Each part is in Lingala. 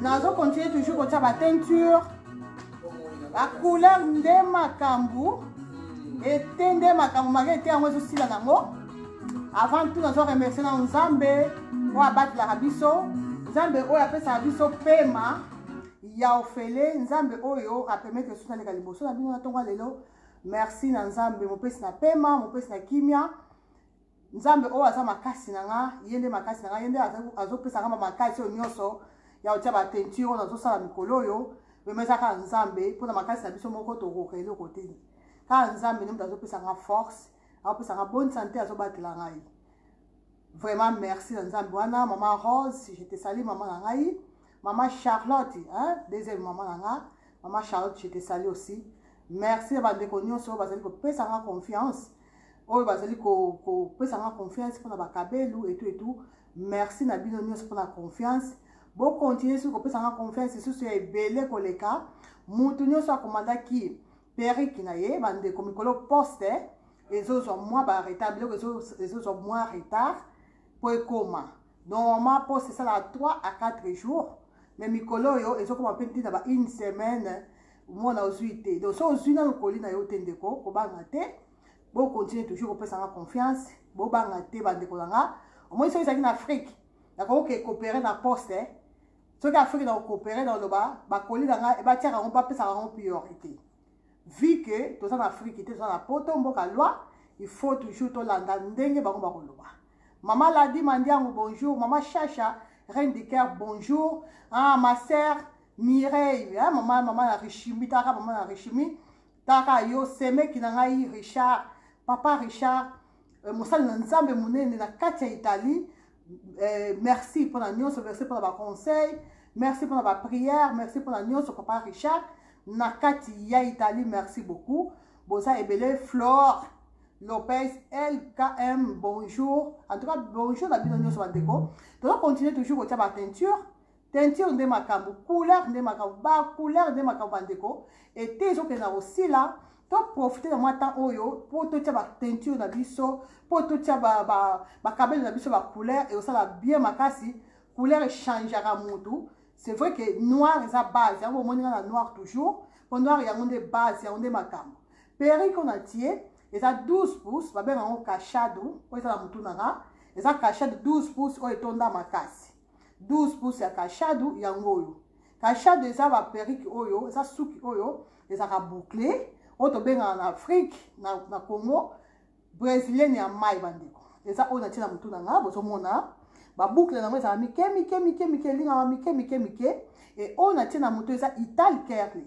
nazo continue toujours kotia ba teinture ba couleur nde makambo ete nde makambo maka ete yango ezosila nango avant tout nazo remercie na nzambe oyo abatelaka biso nzambe oyo apesaka biso pema ya ofele nzambe oyo apermetre biso naleka liboso na bino na ntongo ya lelo merci na nzambe mopesi na pema mopesi na kimia Nzambe oyo aza makasi na nga, ye nde makasi na nga, ye nde azopesa nga makasi oyo nyonso ya kotia ba teinture oyo nazosala mikolo oyo vrema eza kaka nzambe mpo na makasi na biso moko tokoka eloko te kaka nzambe nde moto azopesa nga force azopesa nga bonne santé azobatela ngai vraiment merci na nzambe wana mama rose je te sali mama na ngai Maman Charlotte, hein, deuxième maman na nga, maman Charlotte, je te salue aussi. Merci ba ndeko nyonso oyo bazali kopesa nga confiance, oyo bazali kopesa nga confiance mpona bakabelu etu etu. Merci na bino nyonso mpona confiance. Bo continuer soki kopesa nga confiance lisusu ya ebele koleka. Mutu nyonso akomandaki periki na ye, ba ndeko mikolo poste ezozwa mwa ba retard, biloko ezozwa mwa retard mpo ekoma. Normalement poste esalaka 3 à 4 jours mais mikolo oyo ezokoma mpe ntina ba une semaine mwana ozwi te donc so ozwi nano koli na yo te ndeko kobanga te bokontinue toujours kopesa nga confiance bobanga te bandeko na nga omoni soki ezalaki na afrique nakoki kokopere na poste eh? soki afrique na kokopere na oloba bakoli na nga ebatiaka yango bapesaka yango priorité vu que toza na afrique te toza na poto mboka loi il faut toujours tolanda ndenge bango bakoloba mama ladi mandiango bonjour mama shasha reine du cœur bonjour ah, ma sœur mireille hein, mama mama na rishimi taka mama na rishimi taka yo semeki na ngai richard papa richard euh, mosali na nzambe monene na kati ya italie eh, merci mpona nyonso merci mpona baconseil merci mpona baprière merci mpona nyonso papa richard na kati ya italie merci beaucoup boza ebele flore lopez lkm bonjour en tout cas bonjour na bino nyonso bandeko toza continue toujours kotya bateinture Teinture nde makambo, couleur nde makambo, ba couleur nde makambo bandeko. Ete ezokende na kosila, to profite na mwa temps oyo mpo totya ba teinture na biso, mpo totya bakabelo na biso ba couleur, ekosala bien makasi. Couleur echangeaka mutu. C'est vrai que noir eza base, yango bomoni nga na noir toujours, mpo noir yango nde base, yango nde makambo. Perruque oyo natie eza 12 pouces, babenga yango cachado, oyo eza na mutu na nga, eza cachado 12 pouces oyo etonda makasi. 12 pouces ya kashadu yango oyo kashadu eza ba perruque oyo eza suki oyo ezalaka boucle oyo tobengaka na afrique na, na congo brésilienne ya mai bandeko eza oyo natie na motu na nga bozomona babukle yango ezala mike mike mike mike elingaka mike mike mike e oyo natie na motu eza ital kerly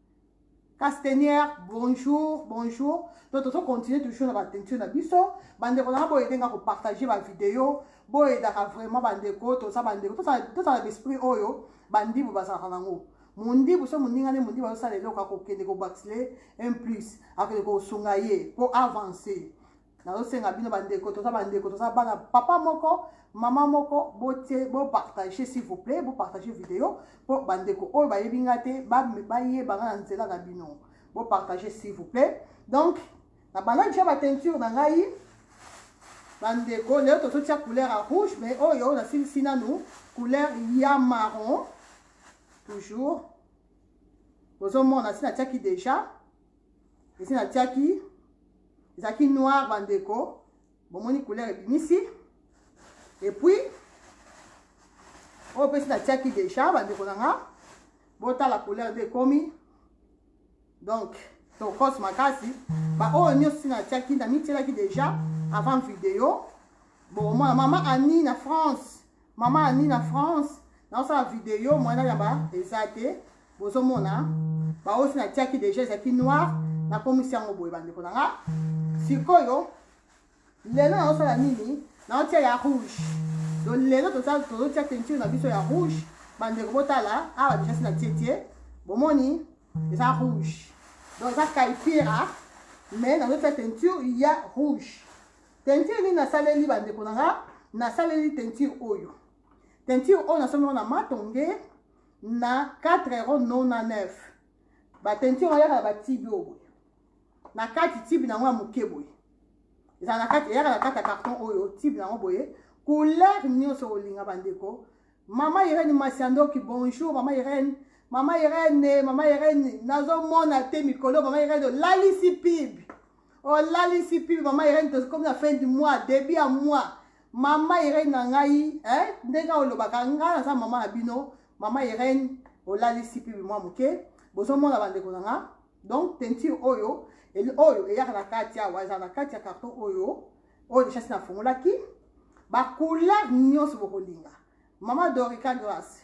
Castenière, bonjour, bonjour. Donc, tozo continuer toujours na ba tension na biso. Bande ko na bo edenga ko partager ba vidéo. Bo edaka vraiment bande ko to sa bande ko to sa to sa l'esprit oyo bandi bo bazaka nango. Mundi bo so muninga ne mundi ba so sala eloko ko kende ko baxle un plus. Akele ko sunga ye pour avancer. nazosenga bino bandeko toza bandeko toza bana papa moko mama moko botie bopartage s'il vous plaît bopartage video mpo bandeko oyo bayebi nga te bayeba nga na nzela na bino bopartage s'il vous plaît donc na bandaki tia bateinture na ngai bandeko lelo tozotia couleur ya rouge mais oyo nasilisi nanu couleur ya marron toujours bozomona si natiaki déjà esi natiaki ezalaki noir bandeko bomoni couleur ebimisi epuis oyo mpesi natiaki deja bandeko na nga botala couleur nde ekomi donc tokose makasi baoyo nyonso si natiaki namityelaki deja avant video bomona mama annie na france Maman Annie na France, na osala video mwana na ba eza te. Bozo mona ba osi na tiaki déjà ezaki noir na komisi yango boye bandeko na nga. Sikoyo lelo na osala nini? Na otia ya rouge. Donc lelo toza tozo tia teinture na biso ya rouge. Bandeko botala awa déjà sina tie tie. Bomoni eza rouge. Donc eza kaipira mais na otia teinture ya rouge. Teinture nini nasaleli bandeko na nga? Nasaleli teinture oyo. Teinture oyo nasombi yango na Matonge na 4 euro 99. Ba teinture oyo yaka na ba tibi oyo boye. Na kati tibi na yango ya moke boye. Ezala na kati eyaka na kati ya carton oyo tibi na yango boye. Couleur nyonso olinga bandeko. Mama Irene Masiandoki, bonjour Mama Irene. Mama Irene, Mama Irene, nazomona te mikolo Mama Irene olalisi pibi. olalisi pili mama irene tokomi na fin du mois début ya mois mama irene na ngai eh, ndenge olobaka ngai naza mama na bino mama irene olalisi pili mwa moke bozomona bandeko na nga donc teinture oyo oyo eyaka na kati awa ezala na kati ya carton oyo oyo deshasi nafungolaki bacouleur nyonso bokolinga mama dorica grace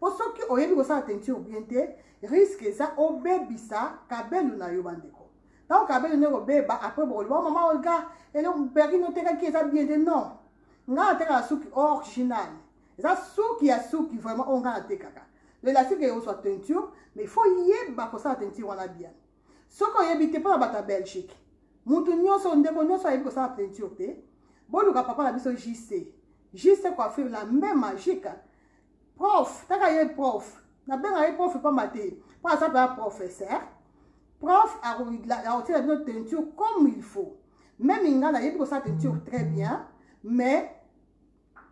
Po soki oyebi kosala teinture bien te, risque eza obebisa cabello na yo bandeko. Tango cabello nde kobeba, après bokoloba oh, mama Olga, eloko perrine otekaki eza bien te. Non, ngai natekaka suki original, eza suki ya suki vraiment oyo ngai natekaka. L'elastique ekozwa teinture, mais faut yeba kosala teinture wana bien. Soki oyebi te, mpo na bato ya Belgique, mutu nyonso, ndeko nyonso ayebi kosala teinture te, boluka papa na biso JC. JC coiffure la main magique prof taka ye prof nabenga ye prof pamba te mpo aza mpenza professeur prof akotiela bino teinture comme il faut meme ngai nayebi kosala teinture très bien mais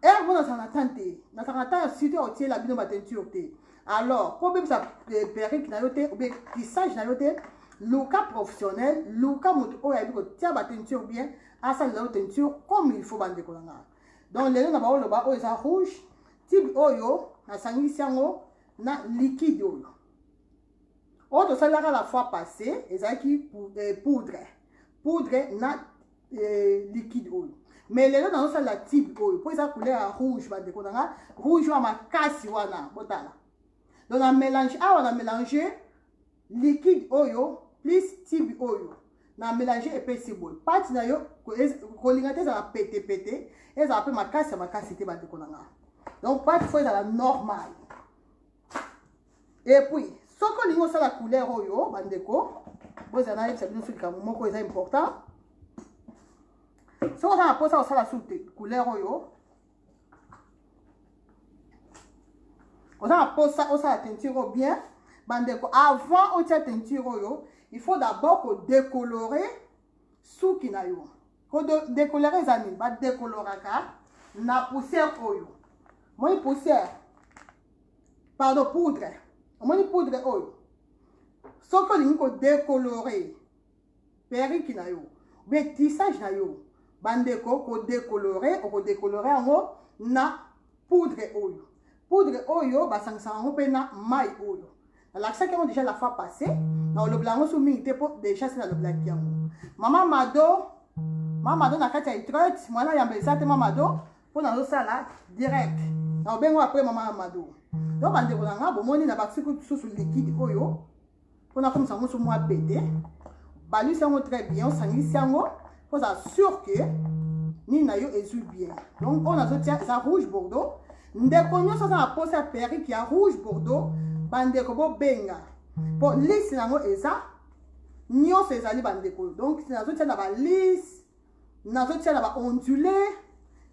heure mpo nazala na temps te nazala na temps ya site akotiela bino bateinture te alors mpo obebisa eh, perike na yo te obe kisage na yo te luka professionnel luka moto oyo ayebi kotia bateinture bien asalela yo teinture comme il faut bandeko na ngai donc lelo na baoloba oyo eza rouge tibi oyo nasangisi yango na liquide oyo oyo tosalelaka la fois passé ezalaki eh, poudre poudre na eh, liquide oyo mais lelo nazosalela tibe oyo mpo eza couleur ya rouge bandeko na nga rouge oyo makasi wana botala donc na mélange awa na mélange Liquide oyo plus tibi oyo na melange epesi boye pati na yo kolinga te ezala pete pete ezala mpe makasi ya makasi te bandeko na ngai donc pati fo ezala normal epuis soki olingi osala couleur oyo bandeko bozala nayebisa bino so likambo moko eza important soki oza na mposa kosala su te couleur oyo oza na mposa osala teinture oyo bien bandeko avant otia teinture oyo il faut d'abord kodecolore suki na yo kodecolore eza nini badecoloraka na poussière oyo omoni poussière pardon poudre omoni poudre oyo soki olingi kodecolore perruque na yo bien tissage na yo bandeko ko decolore oko decolore yango na poudre oyo poudre oyo basangisaka yango mpe na mai oyo nalakisaki yango déjà la fois passé nakolobela yango so mingi te mpo déjà se nalobelaki yango mama mado mama mado na kati ya itrete mwana yamba eza te mama mado mpo nazosala direct nakobengo apres mama mado donc bandeko na ngai bomoni na bakisi kususu likide oyo mpo nakomisa yango so mwa pete balisi yango très bien osangisi yango mpo ozala sur ke nini na yo ezwi bien donc oyo nazotia eza rouge bordeaux ndeko nyonso aza na mposa ya perike ya rouge bordeaux bandeko bobenga mpo lisi na yango eza nyonso ezali bandeko donc nazotia na balise nazotia na baondule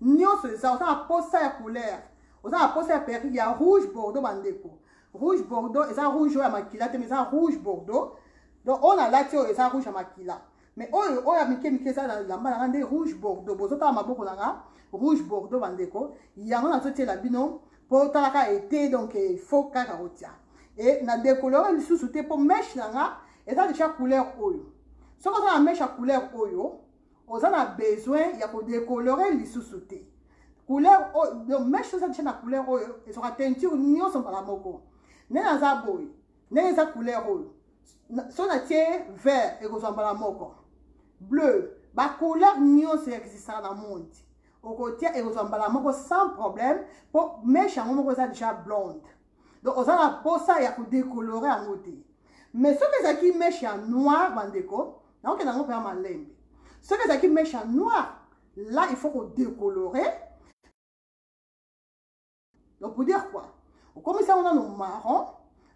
nyonso eza oza na posa ya couleur oza na posa ya perike ya rouge bordeaux bandeko Rouge bordeaux eza rouge oyo ya makila te mais eza rouge bordeaux. Donc oyo nalati oyo eza rouge ya makila. Mais oyo oyo ya mike mike eza na lamba na nga nde rouge bordeaux. Bozotala maboko na nga rouge bordeaux bandeko. Yango nazotiela bino po talaka ete donc il faut kaka kotia. Et na dekolore lisusu te po mèche na nga eza deja couleur oyo. Soki oza na mèche ya couleur oyo oza na besoin ya kodecolore lisusu te couleur oyo meme chose abicha na couleur oyo ezwaka teinture nyonso mbala moko ndenge aza boye ndenge eza couleur oyo so natie vert ekozwa mbala moko bleu bacouleur nyonso existaka na monde okotia ekozwa mbala moko sans problème mpo meshe yango moko eza déjà blonde donc oza na posa ya kodecolore yango te mais soki ezalaki meshe ya noir bandeko nakokenda yango mpe ya malembe soki ezalaki meshe ya noir là il faut kodecolore donc pour dire quoi okomisa yango nano marron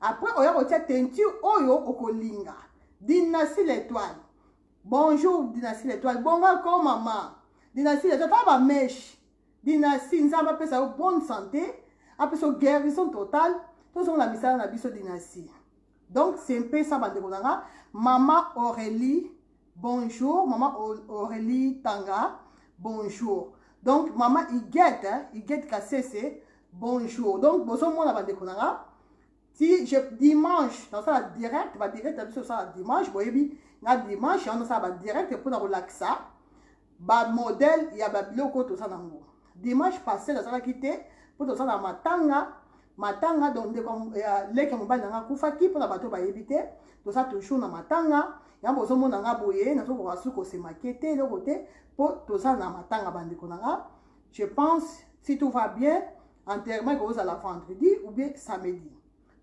après oya kotia teinture oyo okolinga dinasi l'étoile bonjour dinasi l'étoile bongo akoma ma dinasi l'étoile tala bameshe Dynastie nzambe apesa yo bonne santé apesa yo guérison totale tozonga na misala na biso dynastie donc c'est mpe ça bandeko na nga mama aurélie bonjour mama aurélie tanga bonjour donc mama igete igete kasese bonjour donc bozomona bandeko na nga ti je dimanche nasala direct ba direct ya biso osala dimanche boyebi na dimanche yango nasala ba direct mpona kolakisa bamodele ya babiloko oyo toza nango dimanche passé nazalaki te mpo toza na matanga matanga donc ndeko ya leki ya mobali nanga akufaki mpona bato bayebi te toza toujours na matanga yango bozomona nga boye nazokoka su kosemake te eloko te mpo toza na matanga bandeko na nga Je pense si tout va bien enterrement ekozala vendredi ou bien samedi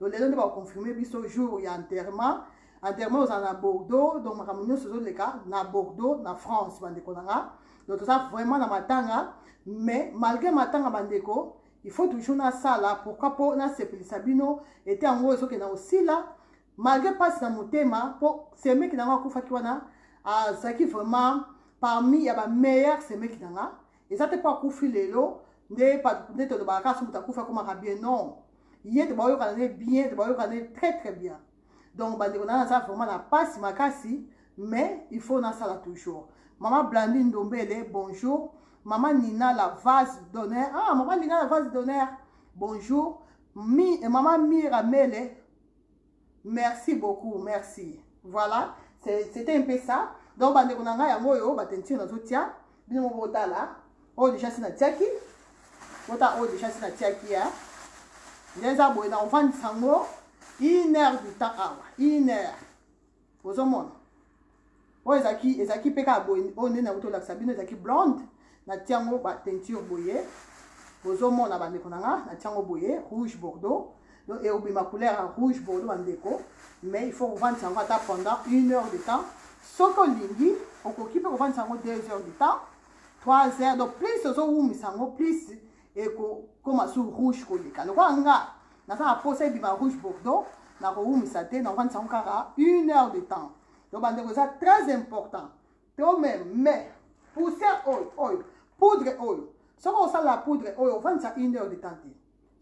donc lelo nde baconfirme biso jour ya enterrement enterrement ozala na bordeaux donc makambo nyonso ezoleka na bordeaux na france bandeko na nga donc toza vraiment na matanga mais malgré matanga bandeko il faut toujours nasala pourquoi mpo nasepelisa bino ete yango ezokenda osila malgre mpasi na motema mpo semeki na yango akufaki wana azalaki vraiment parmi ya bameilleur semeki na nga eza te mpo akufi lelo nde nde tolobaka kaka so moto akufi akomaka bien non ye te baoyokana ne bien te baoyokana ne très très bien donc bandeko na naza vraiment na mpasi makasi mais il faut nasala toujours mama blandi ndombele bonjour mama nina la vase d'honneur ah mama nina la vase d'honneur bonjour Mi, eh, mama mira mele Merci beaucoup, merci. Voilà, c'était un peu ça. Donc, bandeko na ngai yango oyo batenture nazotia bino moko botala oyo deja si natiaki bota oyo deja si natiaki ya nde eza boye na ovandisa yango une heure du temps awa une heure ozomona oyo ezalaki ezalaki mpe kaka boye oyo nde nauti olakisa bino ezalaki blonde natia yango bateinture boye ozomona bandeko na nga natia yango boye rouge bordeaux donc ekobima couleur ya rouge bordeaux bandeko mais il faut kovandisa yango ata pendant une heure de temps soki olingi okoki mpe kovandisa yango deux heures de temps trois heures donc plus ozowumisa yango plus ekokoma su rouge koleka lokola nga naza na posa ebima rouge bordeaux nakowumisa te naofandisa yango kaka une heure de temps donc bandeko eza très important to meme mais poussière oyo oyo poudre oyo soki osala poudre oyo ofandisa une heure de temps te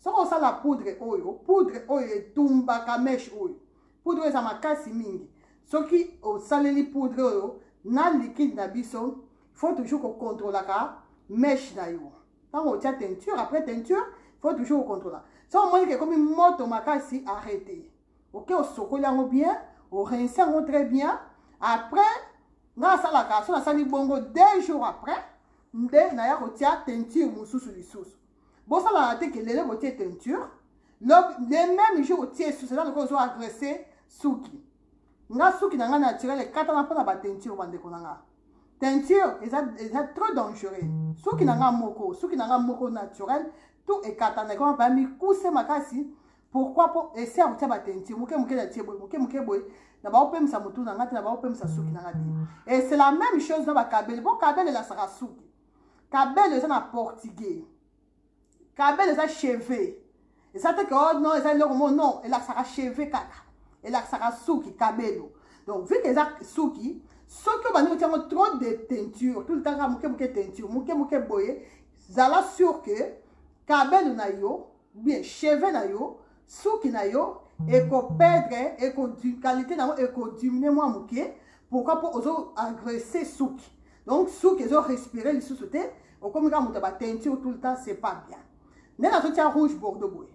soki osala poudre oyo poudre oyo etumbaka meshe oyo poudre oyo eza makasi mingi soki osaleli poudre oyo na likide na biso faut toujours ko controlaka meche na yo ntango otia teinture après teinture faut toujours ocontrola so omoniki ekomi moto makasi arrete oke osokoli yango bien orince yango très bien après nga asalaka so nasali bongo deux jours après nde naya kotia teinture mosusu lisusu bosalaka te kelele botie teinture le même jour otie susu eza lokola ozo agresse suki nga suki na ngai naturel ekatana mpo na bateinture bandeko na ngai teinture eza eza trop dangereux suki na nga moko suki na nga moko naturel tout ekatana ekoma ba mikuse makasi pourquoi mpo esi ya kotya bateinture moke moke na tie boye moke moke boye na baopemisa motu na nga te na baopemisa suki na nga te et c'est la même chose na bakabele mpo kabele elasaka suki kabele eza na portugais Cabelle eza cheveux. Eza te que oh non, eza eloko mo non, elakisaka cheveux kaka. Elakisaka suki cabello. Donc vu que eza suki, soki obandi kotia yango trop de teinture, tout le temps kaka moke moke teinture, moke moke boye, zala sûr que cabello na yo, bien cheveux na yo, suki na yo ekoperdre eko qualité na yango ekodiminue mwa moke pourquoi mpo ozo agresse suki donc suki ezo respire lisusu te okomi kaka moto ya bateinture tout le temps c'est pas bien nde nazotya rouge bordeaux boye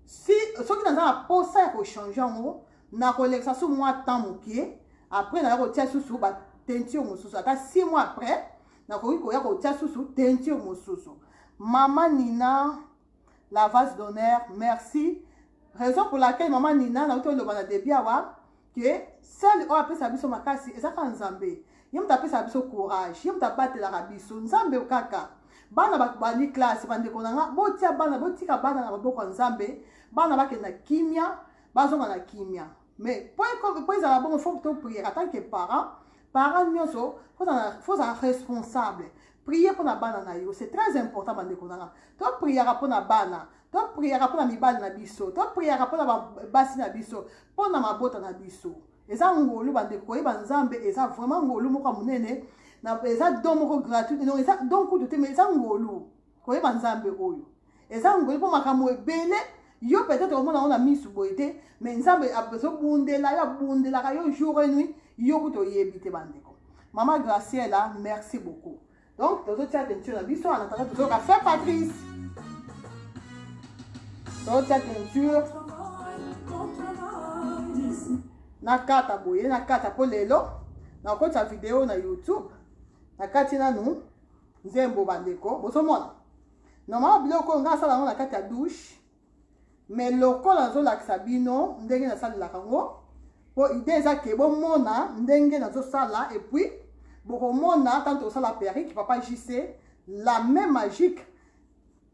si soki naza na mposa ya kochange yango nakolekisa su mwa temps moke après naya kotya susu bateinture mosusu ata six mois après nakoki koya kotya susu teinture mosusu mama nina la vase d'honneur merci raison pour laquelle mama nina nauti oloba na debi awa ke sele oyo apesa biso makasi eza kaka nzambe ye moto apesaka biso courage ye moto abatelaka biso nzambe kaka bana babandi classe bandeko na nga botia bana botika bana na maboko ya nzambe bana bakenda kimia bazonga na kimia mais mpo ezala bongo fo to priere en tant que parent parent nyonso fo ozala responsable prier mpo na bana na yo c'est très important bandeko na nga to priaka mpo na bana to priaka mpo na mibali na biso to priaka mpo na basi na biso mpo na mabota na biso eza ngolu bandeko koyeba nzambe eza vraiment ngolu moko ya monene eza don moko gratuit donc eza don kutu te mais eza ngolu koyeba nzambe oyo eza ngoli mpo makambo ebele yo peut-être omona yango na misu boye te mais nzambe azobundela yo abundelaka yo jour et nuit yo kutu oyebi te bandeko mama graciela merci beaucoup donc tozotia tentio na biso anatanda tozoyoka fe patrice tozotia tentio nakata boye nakata mpo lelo nakotisa video na youtube nakati nanu nzembo bandeko bozomona normalement biloko oyo ngai asala yango na kati ya douche mais lokola nazolakisa bino ndenge nasalelaka yango mpo ide eza ke bomona ndenge nazosala epuis bokomona ntango tokosala perike papa jc la main magique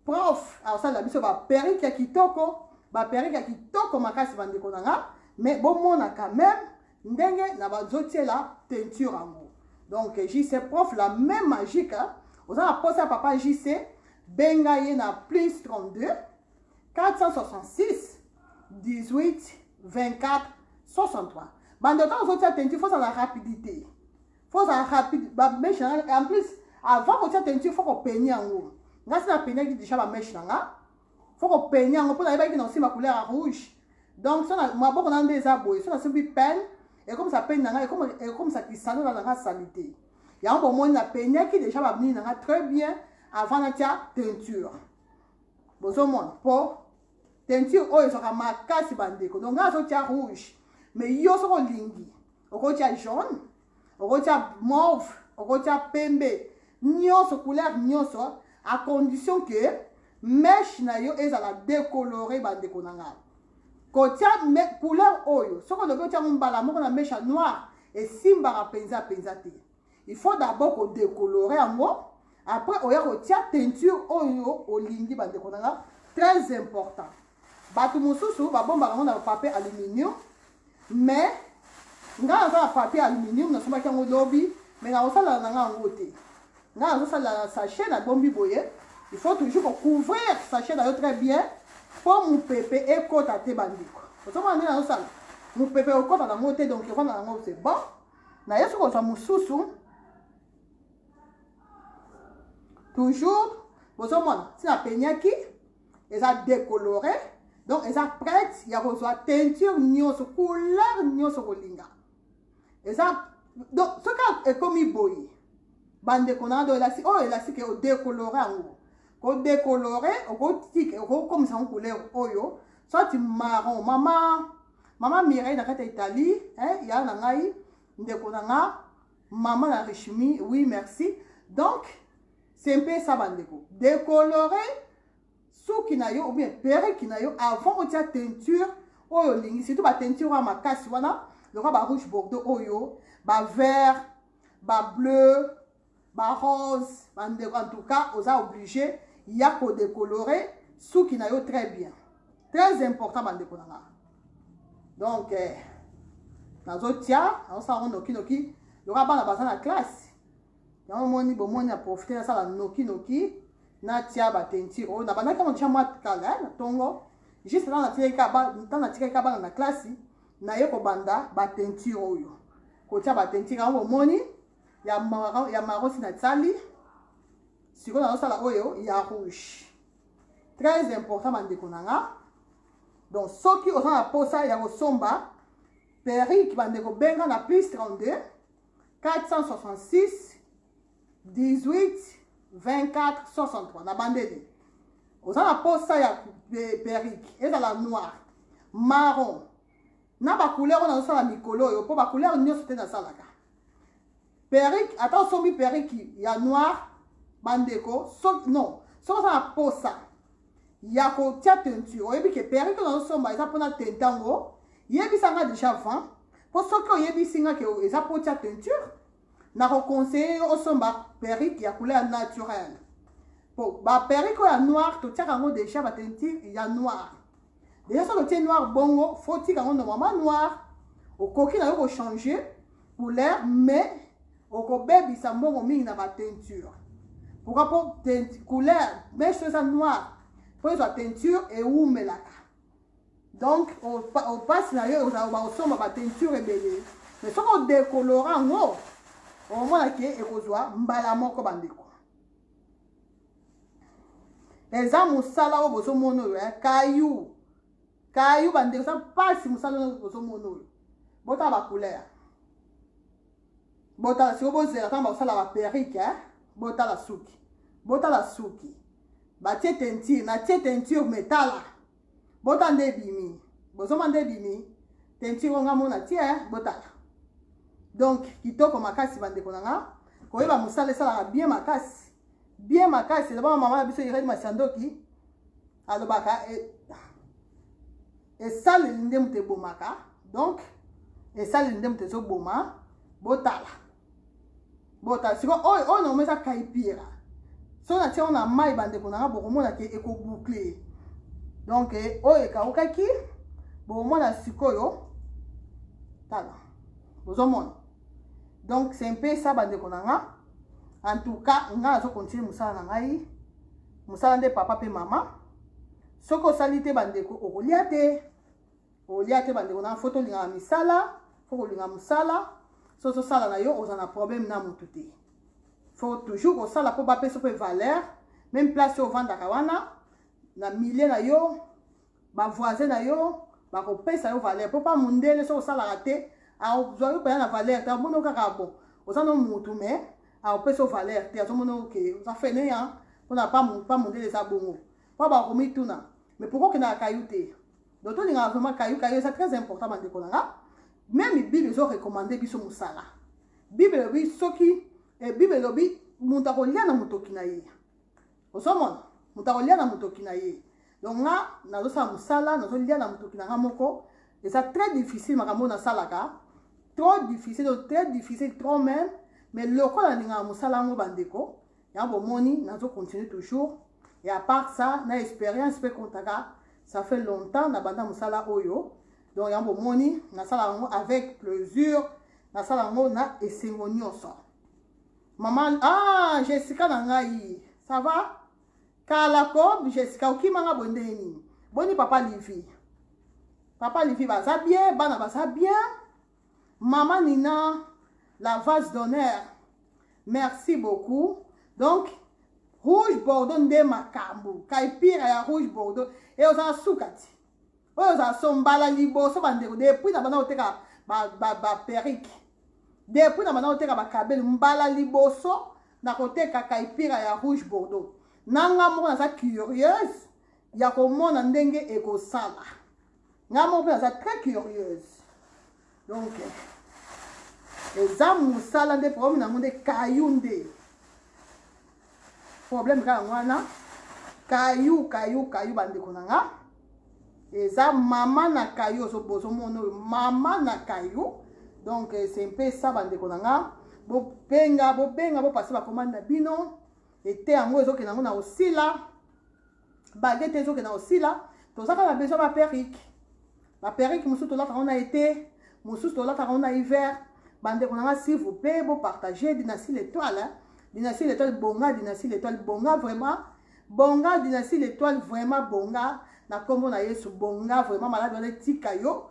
prof akosalela biso baperike ya kitoko baperike ya kitoko makasi bandeko na nga mais bomona quand même ndenge na bazo tiela peinture yango donc JC prof la même magique hein? oza na posa ya papa JC benga ye na plus 32 466 18 24 63 bando ntango ozotia teinture fo ozala rapidité fo ozala rapide bameshe na nga en plus avant kotia teinture fo kopeni yango nga si napeniaki déjà bameshe na nga faut ko peigner yango pona ayebaki na osimba couleur ya rouge donc sona maboko na nde eza boye sona simbi peine ekomisa peine na ngai ekomisa kisano na nanga salite yango bomoni na peignaki deja bamini na ngai très bien avant natya teinture bozomona mpo teinture oyo ezwaka makasi bandeko donc ngai azotya rouge mais yo soki olingi okotya jaune okotya mauve okotya pembe nyonso couleur nyonso à condition que meshe na yo ezala décolore bandeko na ngai kotya couleur oyo soki olobi otya yango mbala moko na meshe ya noire esimbaka mpenza mpenza te il faut d'abord kodecolore yango après oya kotya teinture oyo olingi bandeko na ngai très important Batu mususu ba bombaka yango na papier aluminium mais nga naza na papier aluminium na sombaki yango lobi mais na kosalala na nga yango te nga nazo salala na sachet na bombi boye il faut toujours ko couvrir sachet na yo très bien po mupepe ekota te bandeko ozomona nde nazo sala mupepe okota na ngo te donc efanda na ngo c'est bon na ye soki ozwa mosusu toujours bozomona ntina apenyaki eza decolore donc eza prête ya kozwa teinture nyonso couleur nyonso kolinga eza donc soki ekomi boye bandeko na do elasi oyo elasi ke odecolore yango kodecolore okotika okokomisa yango couleur oyo soit marron mama mama mireille na kati ya italie eh, ya na ngai ndeko na nga mama na richmi oui merci donc Sempesa bandeko, decolore suki na yo ou bien perruque na yo avant otia teinture oyo olingi, surtout ba teinture wana makasi wana lokola ba rouge bordeaux oyo, ba vert, ba bleu, ba rose, bandeko en tout cas oza oblige ya ko decolore suki na yo très bien. Très important bandeko na nga. Donc eh, nazotia, naosala ngo noki noki, lokola bana baza na classe na omoni bomoni na profite nasala noki noki natia ba teinture oyo nabandaki yango tia mwa kala eh, na ntongo juste ntango natikaki ka bana na klasi naye kobanda ba teinture oyo kotia ba teinture yango bomoni ya maro, ya maro si natiali sikoyo nazosala oyo ya rouge très important bandeko na nga donc soki oza na mposa ya kosomba perike bandeko benga na plus 32 466 18 24 63 na bandeli oza na posa ya perike ezala noir marron na bacouleur oyo nazosala mikolo oyo mpo bacouleur nyonso te nasalaka perike ata osombi perike ya noir bandeko so, non soki oza na posa ya kotia teinture oyebi ke perike nazosomba eza mpona teinta yango yebisa nga déjà avant mpo soki oyebisi nga ke eza mpo otia teinture nakoconseille yo osomba perike ya couleur naturelle mpo baperike oyo ya noire totiaka yango déjà bateinture ya noire deja soki otie noir bongo fo tika yango normalement noir okoki na yo kochange couleur mais okobebisa mbongo mingi na bateinture pourquoi mpo couleur meshe eza noir mpo ezwa teinture ewumelaka donc opasi na yo baosomba bateinture ebele mais soki odekolora yango omona ke ekozwa mbala moko bandeko eza mosala oyo bozomona oyo eh? kayu kayu bandeko eza mpasi mosala oyo bozomona oyo botala bacouleur botala siko bozela ntango bakosala baperike eh? botala suki botala suki batie teinture natie teinture metala bota nde ebimi bozoma nde ebimi teinture onga mona tie botaka donc kitoko makasi bandeko na nga koyeba mosala esalaka bien makasi bien makasi elobaka mama na biso irene masiandoki alobaka e, esaleli nde moto ebomaka donc esaleli nde moto ezoboma botala bota siko oyo oyo na omeza kaipira soki natia yango na mai bandeko na nga bokomona ke ekobukle donk eh, oyo ekaukaki bokomona sikoyo tala bozomona donk se mpe sa bandeko na nga en tout cas nga nazokontinue mosala na ngai mosala nde papa mpe mama soki osali te bandeko okolia te Olia te bandeko na faut tolingaka misala faut kolinga mosala so ozosala na yo oza na problème na motu te faut toujours kosala mpo bapesa mpe valeur meme place oyo ovandaka wana na milieu na yo bavoisin na yo bakopesa yo valeur mpo mpa mondele soki osalaka te azwa yo mpenza na valeur te amoni kaka bo oza no motu mais akopesa yo valeur te azomona oke oza fene ya mpona mpa mondele eza bongo mpo bakomituna mais pourkoi okendaka kayu te donc tolingaka vraiment kayo kayo eza très important bandeko na nga meme bible ezo recommande biso mosala bible elobi soki eh, bible elobi moto akolia na motoki na ye ozomona moto akolia na motoki na ye donc nga nazosala mosala nazolia na motoki na nga moko eza très difficile makambo oyo nasalaka trop difficile donc très difficile trop même mais lokola nalingaka mosala yango bandeko ya bomoni nazo continue toujours et à part ça na expérience pe kontaka ça fait longtemps na banda mosala oyo donc ya bomoni nasala yango avec plaisir nasala yango na esengo nyonso mama ah jessica na ngai ça va kala ko jessica okima nga boye ndenge nini boni papa livi papa livi baza bien bana baza bien Maman Nina la vase d'honneur merci beaucoup donc rouge bordeaux nde makambo kaipira ya rouge bordeaux e ozala suka ti oyo ozala so mbala liboso bandeko depuis na banda koteka baperike ba, ba depuis na banda koteka bakabeli mbala liboso na koteka kaipira ya rouge bordeaux nanga moko naza curieuse ya komona ndenge ekosala nga moko mpe naza très curieuse donc eza mosala nde problème nango nde kayu nde problème kaka yango wana kayu kayu kayu bandeko na nga eza mama na kayu ozomona oyo mama na kayu donc eh, c'est mpe sa bandeko na nga bobenga bobenga bopase bakomande na bino ete yango ezokende yango na osila bage te ezokenda kosila toza kaka besoin ba perruque ba perruque mosusu tolataka ngo na ete mosusu tolataka ngo na hiver bandeko na nga s'il vous plaît bo partage dynastie l'étoile dynastie l'étoile bonga dynastie l'étoile bonga vraiment bonga dynastie l'étoile vraiment bonga na nkombo na yesu bonga vraiment maladi wana etika yo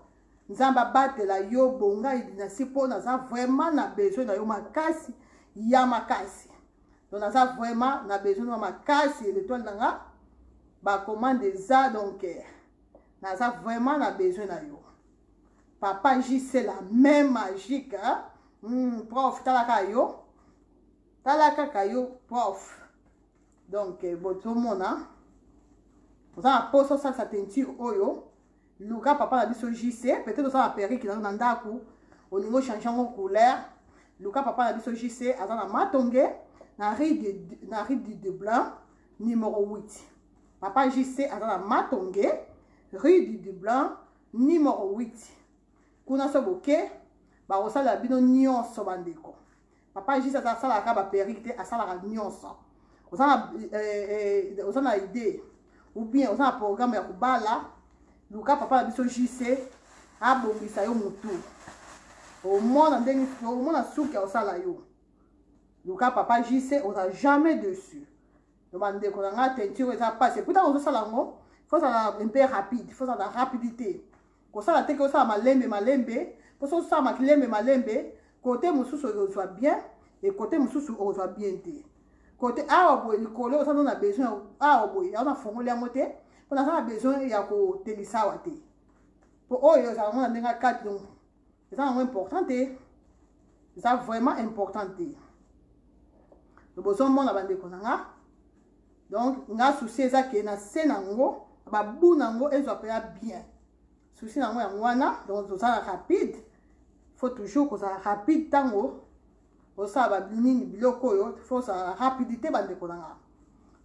nzambe abatela yo bonga dynastie mpo naza vraiment na besoin na yo makasi ya makasi donc naza vraiment na besoin nwa makasi l'etoile na nga bacommande eza donc eh, naza vraiment na besoin na yo papa jc la main magique mm, prof tala kaka yo tala kaka yo prof donc eh, botomona oza na mposa osalisa teinture oyo Luka papa na biso JC, peut-être osala perruque na ndaku, olingo changer ngo couleur. Luka papa na biso JC aza na Matonge na rue de na rue du de Blanc numéro 8. Papa JC aza na Matonge rue du de Blanc numéro 8. Kuna so boke bakosala bino nyonso bandeko. Papa Jesus aza asalaka kaka ba perruque te, asalaka nyonso. Oza na eh, eh, oza na idée ou bien oza na programme ya kobala, luka papa na biso JC abongisa yo mutu. Omona ndenge omona suki osala yo. Luka papa JC oza jamais dessus. Donc bandeko na nga teinture eza pasi. Eputa ozosala yango, faut ozala un peu rapide, faut ozala rapidité. Kosala te ke osala malembe malembe, mpo soki osala makilembe malembe, kote mosusu okozwa bien, e kote mosusu okozwa bien te. Kote awa boye likolo oza no na besoin awa boye, yango nafongoli yango te, mpo naza na besoin ya kotelisa awa te. Mpo oyo ozala mona ndenge akati donc eza yango important te eza vraiment important te bozomona bandeko na nga donc nga souci eza ke na se na yango babu na yango ezwa mpenza bien souci na yango yango wana donc tozala rapide faut toujours kozala rapide ntango osala babinini biloko oyo faut ozala rapidité bandeko na nga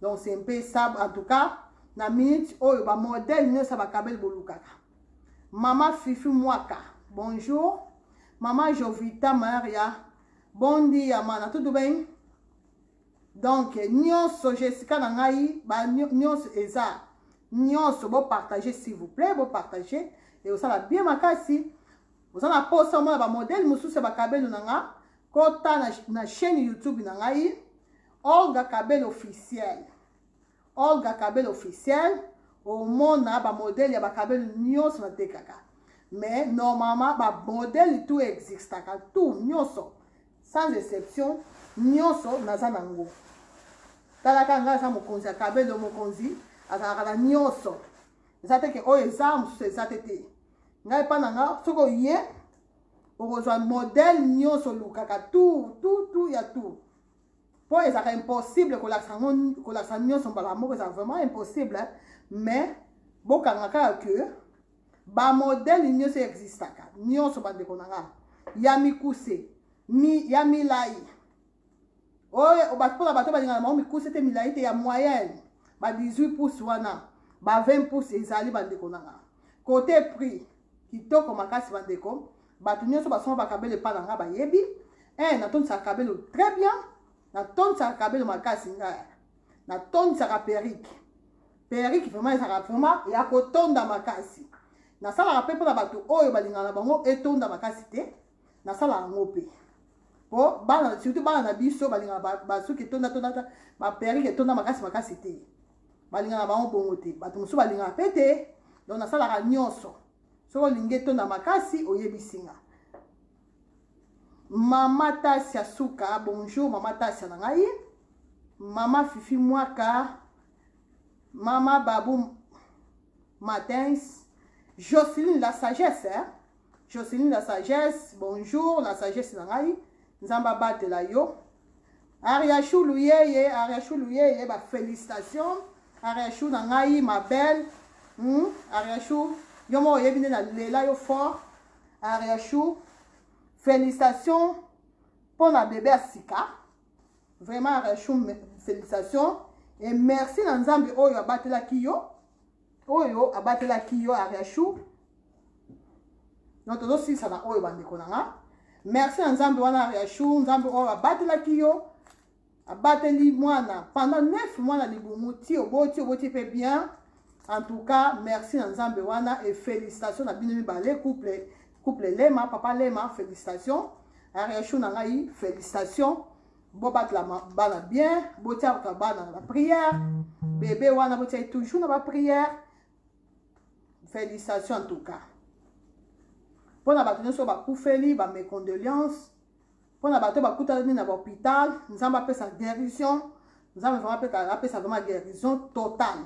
donc c'est mpe sab en tout cas na minute oyo bamodele nyonso ya bakabeli bolukaka Maman Fifi Mwaka, bonjour. Maman Jovita Maria, bon dia, mana, tudo bem? Donc, nyonso, Jessica na ngai, ba nyonso eza, nyonso, bo partager, s'il vous plaît, bo partager, et osala bien makasi, oza na posa omona ba modèle mosusu ya ba kabelo na nga, kota na, na chaîne YouTube na ngai, Olga Kabelo officiel. Olga Cabelo officiel omona ba modèle ya ba Cabelo nionso na tekaka mais normalement ba modèle tout existaka tout nionso sans exception nionso naza na ngo talaka nga aza mokonzi ya Cabelo mokonzi azalaka na nionso eza te ke oyo eza mosusu eza te te ngai epa na nga soki oye okozwa modèle nionso olukaka tout tout tout ya tout po ezalaka impossible kolakisa yango kolakisa nyonso mbala moko ezalaka vraiment impossible mais bokanga kaka ke bamodele nyonso existaka nyonso bandeko na nga ya mikuse mi, ya milai oyo mpona bato balingana bango mikuse te milai te ya moyenne ba 18 pouce wana ba 20 pouce ezali bandeko na nga kote prix kitoko makasi bandeko Bato nioso basomba ba cabelo epa na nga bayebi eh natondisaka cabelo très bien natondisaka cabelo makasi nga natondisaka perrique perrique vraiment ezalaka vraiment ya kotonda makasi nasalaka mpe mpona bato oyo balingaka na bango etonda makasi te nasalaka yango mpe po bana surtout bana na biso balingaka basuki etonda tonda baperike etonda makasi makasi te balingaka bango bongo te bato mosusu balingaka mpe te donc nasalaka nyonso Soki olingi etonda makasi oyebisi nga. Mama Tasia Suka, bonjour mama Tasia na ngai. Mama Fifi Mwaka, mama Babu Matins, Jocelyne la sagesse, hein? Jocelyne la sagesse, bonjour la sagesse na ngai. Nzambe abatela yo. Ariachou luyeye Ariachou luyeye ba felicitations Ariachou na ngai ma belle hmm? Ariachou yo moko oyebi nde na lela yo fort Ariachou felicitations mpo na bebe ya sika vraiment Ariachou felicitations et merci na Nzambe oyo abatelaki yo oyo abatelaki yo ariachou donc tozosilisa na oyo bandeko na nga merci na nzambe wana ariachou nzambe oyo abatelaki yo abateli mwana pendant 9 mois na libumu ti oboti oboti mpe bien en tout cas merci na nzambe wana et félicitation na bino mibale couple couple lema papa lema félicitation ariachou na ngai félicitation bobatlama bana bien botiaka bana na baprière bebe wana botiaki toujours na baprière félicitation en tout cas mpo na bato nyonso bakufeli bamecondoléance mpo na bato bakutani na bahôpital nzambe apesa guérison nzambe vraimen apesa vraimen guérison totale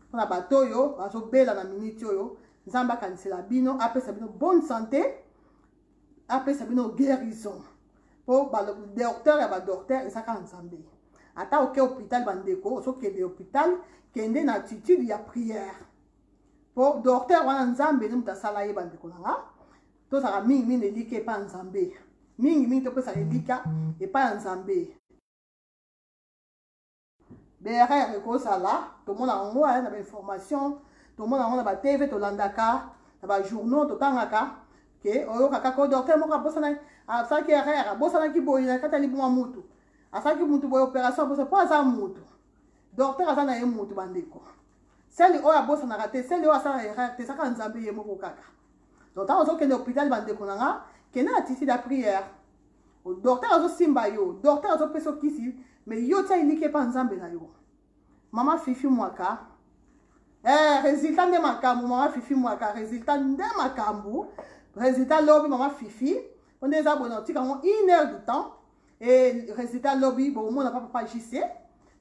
mpo na bato oyo bazobela na miniti oyo nzambe akanisela bino apesa bino bonne santé apesa bino guérison mpo docteur ya badocteur eza kaka nzambe ata oke hôpital bandeko ozokende hôpital kende na attitude ya prière mpo docteur wana nzambe nde moto asala ye bandeko na nga tozalaka mingi mingi na elika epai ya nzambe mingi mingi topesaka elika epai ya nzambe BRR ekozala tomona yango aya na bainformation tomona yango na batv tolandaka na bajournaux totangaka ke oyokaka ko docteur moko abosanaki asalaki erreur abosanaki boye na kati ya libuma mutu asalaki mutu boye opération abosa mpo aza mutu docteur aza na ye mutu bandeko seli oyo abosanaka te seli oyo asala erreur te ezaka nzambe ye moko kaka donc ntango ozokende hôpital bandeko na nga kende na titi la prière O docteur azo simba yo, docteur azo pesa kisi, mais yo tia elike pa Nzambe na yo. Mama Fifi Mwaka, eh resultat nde makambu mama Fifi Mwaka, resultat nde makambu. Resultat lobi mama Fifi, on eza bona otika ngo 1 heure du temps et résultat lobi bo mona papa papa JC.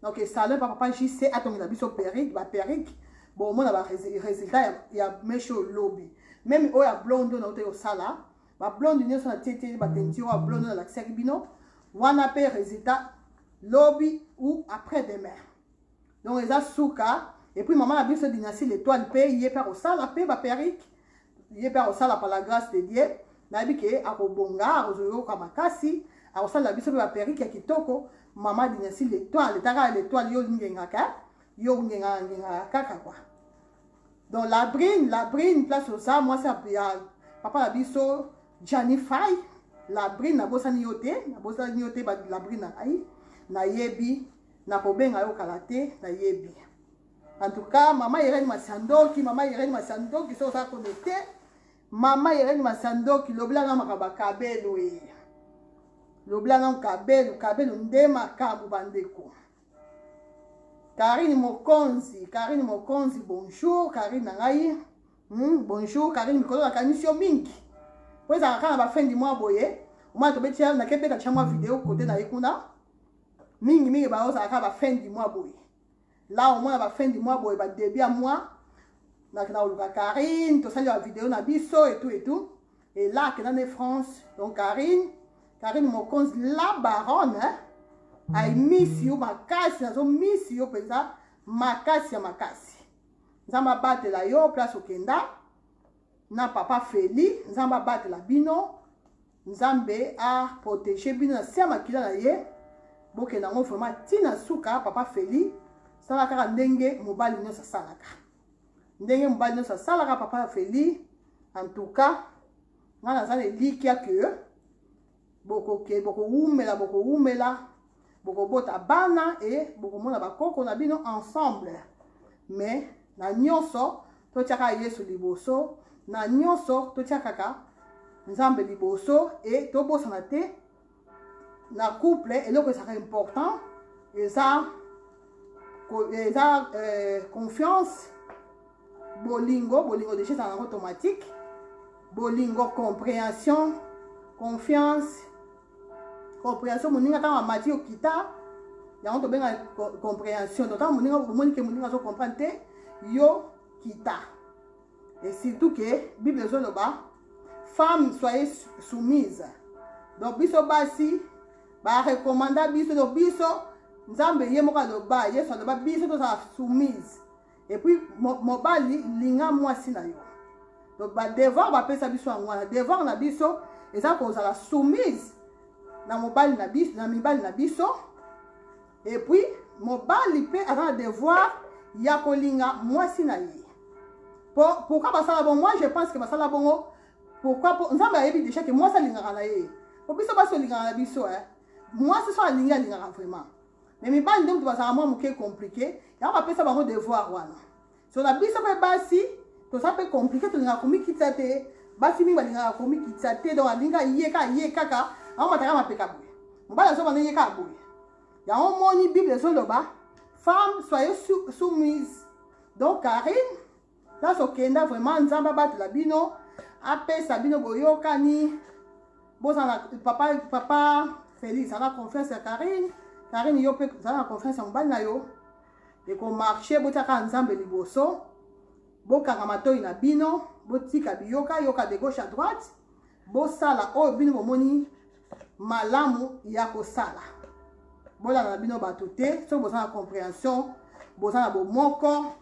Donc et salon papa papa JC atongela biso perruque, ba perruque bo mona ba résultat ya, ya mesho lobi. Même oya blonde na ote yo sala ba blonde nioso na tie tie ba teinture ya blonde na lakisaki bino wana pe resultat lobi ou après demain donc eza suka et puis maman na biso dynastie l'étoile pe ye pe akosala pe ba perruque ye pe akosala par la grâce de Dieu nayebi ke akobonga akozoyoka makasi akosalela biso pe ba perruque ya kitoko mama dinasi letoile etaka ya letoile yo olingengaka yo ongengaka ngengaka kaka kwa donc la brine la brine place oza mwasi ya papa na biso janifai la brine nabosani yo te nabosani yo te la brine na ngai nayebi nakobenga yo kala te nayebi en tout cas mama irene masiandoki mama irene masiandoki soki oza connecte mama irene masiandoki lobelanga makambo ya kabelo e lobelanga kabelo kabelo nde makambo bandeko Karine Mokonzi, Karine Mokonzi, bonjour, Karine na ngai. Hmm, bonjour, Karine mikolo nakanisi yo mingi. Po ezalaka kaka na ba fin du mois boye. Omona tobeti ya na kebeta tia mwa video kote na ye kuna. Mingi mingi ba ozalaka kaka ba fin du mois boye. La omona ba fin du mois boye ba début ya mois. Na kina oluka Karine, tosali ba video na biso et tout et tout. Et là, que dans France, donc Karine, Karine Mokonz, la baronne, hein? I miss you, makasi, nazo miss you, penza, makasi ya makasi. Nzambe abatela yo, place okenda, na papa Feli, Nzambe abatela bino, Nzambe a protégé bino na se ya makila na ye, bokenda ngo vraiment tina suka, papa Feli, sala kaka ndenge mobali nyonso asalaka. ndenge mobali nyonso asalaka papa ya feli en tout cas ngai naza na elikya ke bokoke bokowumela bokowumela bokobota bana e bokomona bakoko na bino ensemble mais na nyonso totyaka yesu liboso na nyonso totyakaka nzambe liboso e tobosana te na couple eloko ezalaka important eza eza euh, confiance bolingo bolingo deja ezalaka yango automatique bolingo comprehension confiance comprehension moninga ntango amati okita yango tobenga comprehension donc ntango moninga omoni ke moninga azo comprendre te yo kita et surtout que bible ezoloba femme soyez soumise donc biso basi barecommanda biso donc biso nzambe ye moko aloba yesu aloba biso tozala soumise epuis mobali linga mwasi na yo donc badevoir bapesa biso yango wana devoir na biso eza kozala soumise na mobali na biso na mibali na biso Et puis mobali mpe aza na devoir ya kolinga mwasi na ye pourquoi basala bongo moi je pense que basala bongo pourquoi po nzambe ayebi déjà ke mwasi alingaka na ye po biso basi olingaka na biso e mwasi so alingi alingaka vraiment mais mibali nde moto bazalaka mwa moke compliqué yango bapesa bango devoir wana so na biso mpe basi toza mpe komplike tolingaka komikitisa te basi mingi balingaka komikitisa te donc alinga ye kaka ye kaka aomataka mapeka boye mobali azobanda ye kaka boye yango omoni bible ezoloba femme soyez soumise donc karine place okenda vraiment nzambe abatela bino apesa bino boyokani bozala papa papa felix aza confiance ya karine karine yo mpe zala na confiance ya mobali na yo ekomarche botiaka nzambe liboso bokanga matoi na bino botika biyoka yoka de gauche à droite bosala oyo bino bomoni malamu ya kosala bolanda na bino bato te soki boza na compréhension boza na bomoko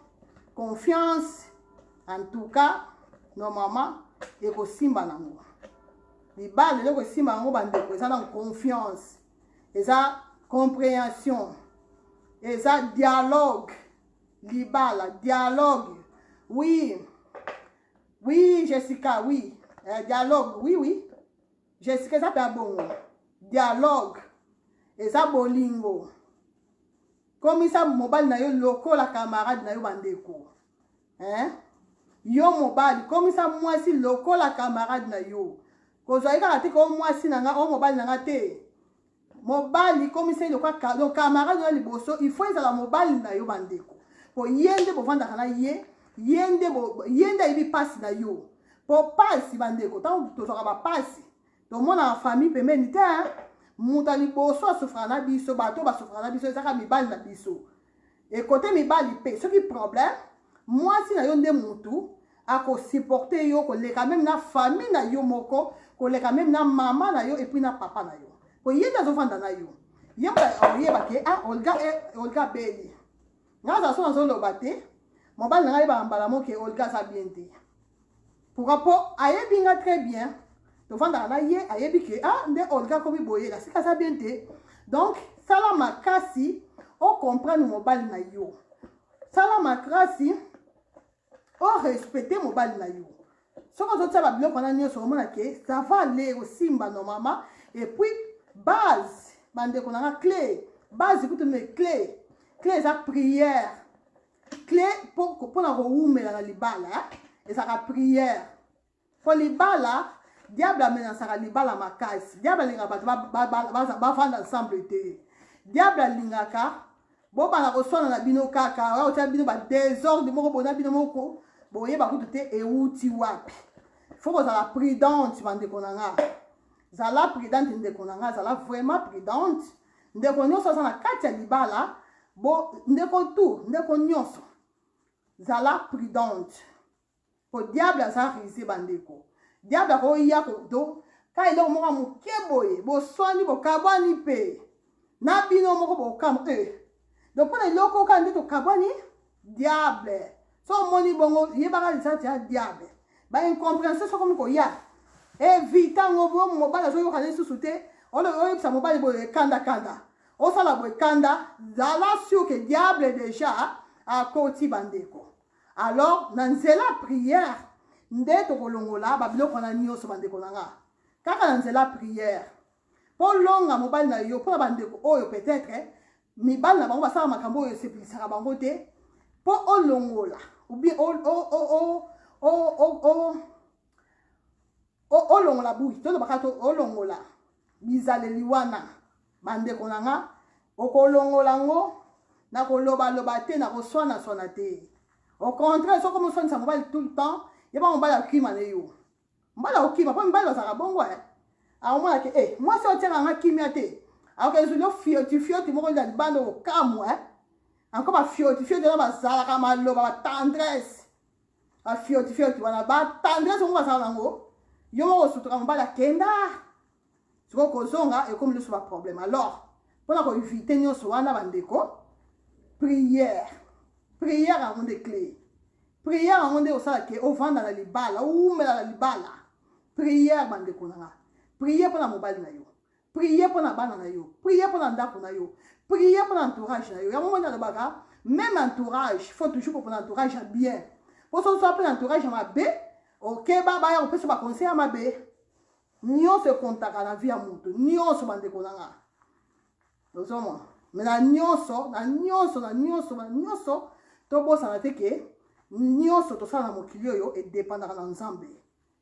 confiance en tout cas normalement ekosimba nango libala eloko esimba yango bandeko eza na confiance eza comprehension eza dialogue libala dialogue oui oui jessica oui euh, dialogue oui oui jessica eza mpe ya bongo dialogue eza bolingo komisa mobali na yo lokola camarade na yo bandeko hein? yo mobali komisa mwasi lokola camarade na yo kozwa ye kaka te ko mwasi na nga o mobali na nga te mobali komisa ye lokola camarade na liboso il faut ezala mobali na yo bandeko po ye nde bovandaka na ye ye nde ye nde ayebi mpasi na yo po mpasi bandeko ntango tozwaka bampasi tomonaka famille pembeni te moto ya liboso asufraka na biso bato basufraka na biso ezaka mibali na biso ekote mibali mpe soki problème mwasi na yo nde motu akosupporte yo koleka meme na famille na yo moko koleka meme na mama na yo epuis na papa na yo po ye nde azofanda na yo ye oyeba ke ah olga eh, olga beli Nga za son azo loba te. Mobali na nga yeba mbala moke Olga za bien te. Pourquoi po ayebi nga très bien. Tovandaka na ye ayebi ke ah nde Olga komi boye na sika za bien te. Donc sala makasi o comprendre mobali na yo. Sala makasi o respecte mobali na yo soki ozotia babiloko wana nyonso omona ke ça va aller ekosimba normalement et puis base bandeko na nga cle base kutu me cle cle eza prière cle mpona kowumela na libala ezalaka prière Po libala diable amenasaka libala makasi. Diable alingaka bato bavanda ba, ba, ba, ba ensemble te. Diable alingaka bobanda koswana na bino kaka oya kotya bino ba desordre moko bona bino moko boyeba kutu te euti wapi. Fo kozala prudente bandeko na nga, zala prudente ndeko na nga, zala vraiment prudente ndeko nyonso aza na kati ya libala bo ndeko tu ndeko nyonso zala prudente po diable aza rise bandeko diable akoya kodo ka eloko moko moke boye boswani bokabwani mpe na bino moko bokam e eh. donc mpona eloko kaka nde tokabwani diable so omoni bongo yebaka lisati ya diable baincompréhension sokomi koya evita eh, ngo bo mobali azoyoka na lisusu te oyebisa mobali boye ekandakanda osala boye kanda zala sur ke diable deja akoti bandeko alors na nzela ya prière nde tokolongola babiloko wana nyonso bandeko na nga kaka na nzela ya prière mpo longa mobali na yo mpo na bandeko oyo peut-être mibali na bango basala makambo oyo esepelisaka bango te mpo olongola obien olongola bui tolobaka to olongola bizaleli wana Bandeko na nga, okolongola ngo na kolobaloba te, na koswanaswana te. Au contraire, soki omoswanisa mobali tout le temps, yeba mobali akima na yo. Mobali akokima, mpo mibali bazalaka bongo eh. akomona ke e mwasi oyo otyaka nga kimia te akoka ezwili ofioti fioti moko na libanda okokamwa eh? anko bafioti fioti wana bazalaka maloba batendresse bafioti fioti wana batendresse yango bazala nango yo moko osutuka mobali akenda sikoyo kozonga ekomi lisusu baproblème alors mpona koevite nyonso wana bandeko prière prière yango nde cle prière yango nde osala ke ovanda na libala oumela na libala prière bandeko na nga prière mpona mobali na yo prière mpona bana na yo prière mpona ndako na yo prière mpona entourage na yo yango moni alobaka même entourage faut toujours kopona entourage ya bien mpo soki oza mpe na entourage ya mabe okeba baya kopesa baconseil ya mabe Nionso ekontaka na vie ya mutu. Nionso bandeko na nga. Ozomona? Mais na nionso, na nionso, na nionso, na nionso, tobosana te ke nionso tosala na mokili oyo edepandaka na Nzambe.